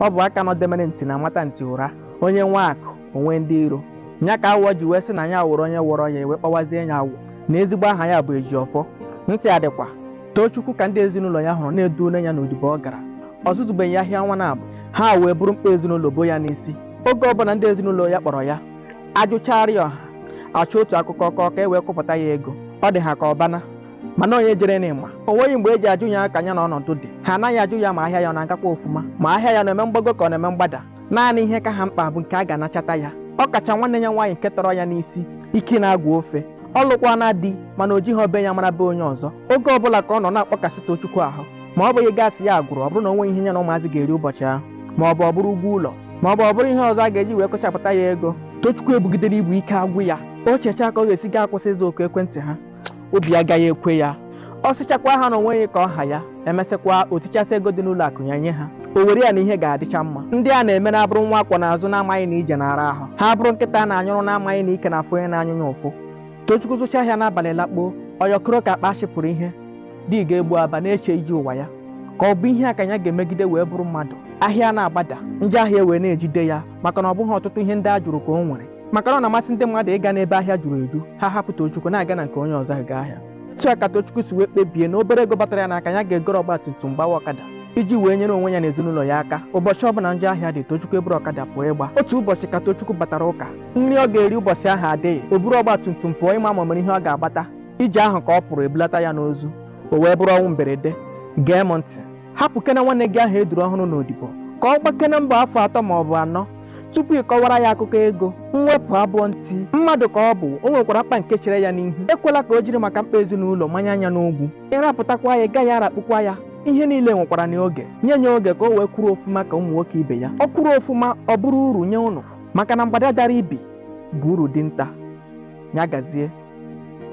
ọ bụ aka nọdemere ntị na-amata ntị ụra onye nwee akụ o nwee ndị iro nya ka awọ ji wee sị na ya wụrụ onye wọrọ ya e wee kpọwazie ya awọ na ezigbo aha ya bụ ejiọfọ ntị adịkwa tochukwu ka ndị ezinụlọ ya hụrụ na e duole ya n'odibo ọ gara ọ zụzubeghị ahịa ọnwa naabọ ha wee buru mkpa ezinụlọ bo ya n'isi oge ọbụla ndị ezinụlọ ya kpọrọ ya ajụchara ya ọha achọọ otu akụkọ kọọ ka e wee kụpụta ya ego ọ dị ha ka ọ bana mana onye jere n'ịma o nweghị mgbe e ji ajụ ya ka ya na ọnọdụ dị ha anaghị ajụ ya ma ahịa ya ọ na-agakwa ofuma ma ahịa ya na-eme mgbago ka ọ na-eme mgbada naanị ihe ka ha mkpa bụ nke a ga-anachata ya ọ kacha nwanne ya nwaanyị nke tọrọ ya n'isi ike na-agwa ofe ọ lụkwana di mana o jighị be ya mara be onye ọzọ oge ọbụla ka ọ nọ na-akpọkasị Tochukwu ahụ ma ọ bụghị gaasị ya agwụrụ ọ bụrụ na o nweghị ihe ya na ụmụazị ga-eri ụbọchị ahụ ma ọ bụ ọ bụrụ ụgwọ ụlọ ma ọ bụ ọ bụrụ ihe ọzọ a ga-eji wee kọchapụta ya ego Tochukwu ebugidere ibu ike agwụ ya o chechaa ka ọ ga-esi gaa akwụsị ịza oku ekwentị ha obi agaghị ekwe ya ọ sịchakwa ha na o nweghị ka ọ ha ya e mesịkwa o tichasị ego dị n'ụlọ akụ ya nye ha o were ya na ihe ga-adịcha mma ndị a na-emere abụrụ nwa a kwọ n'azụ na-amaghị na ije na-ara ahụ ha abụrụ nkịta a na-anyụrụ na-amaghị na ike na-afụ onye na-anyụ ya ụfụ tochukwu zụcha ahịa n'abalị lakpoo ọ yọkọrọ ka akpa a chịpụrụ ihe dị ga-egbu aba na-eche ije ụwa ya ka ọ bụ ihe a ka ya ga-emegide wee bụrụ mmadụ ahịa na-agbada njọ ahịa wee na-ejide ya maka na ọ bụghị ọtụtụ ihe ndị a jụrụ ka o nwere maka na ọ na-amasị ndị mmadụ ịga n'ebe ahịa juru eju ha hapụ Tochukwu na-aga na nke onye ọzọ ha gaa ahịa otu a ka Tochukwu si wee kpebie na obere ego batara ya n'aka ya ga-egoro ọgba tum tum gbawa ọkada iji wee nyere onwe ya na ezinụlọ ya aka ụbọchị ọ bụla njọ ahịa dị Tochukwu eburu ọkada pụọ ịgba otu ụbọchị ka Tochukwu batara ụka nri ọ ga-eri ụbọchị ahụ adịghị o buru ọgba tum tum pụọ ịma ma o nwere ihe ọ ga-agbata ije ahụ ka ọ pụrụ e bulata ya n'ozu o wee bụrụ ọnwụ mberede gee m ntị hapụkena nwanne gị ahụ e duru ọhụrụ n'odibo ka ọ gbakena mbọ afọ atọ ma ọ bụ anọ tupu ị kọwara ya akụkọ ego mwepụ abụọ ntị mmadụ ka ọ bụ o nwekwara mkpa nke chere ya n'ihu ekwela ka o jiri maka mkpa ezinụlọ manye anya n'ogwu ị rapụtakwa ya ị gaghị arakpukwa ya ihe niile nwekwara n'oge nye ya oge ka o wee kwụrụ ofuma ka ụmụ nwoke ibe ya ọ kwụrụ ofuma ọ bụrụ uru nye ụnụ maka na mgbada dara ibi bụ uru dinta ya gazie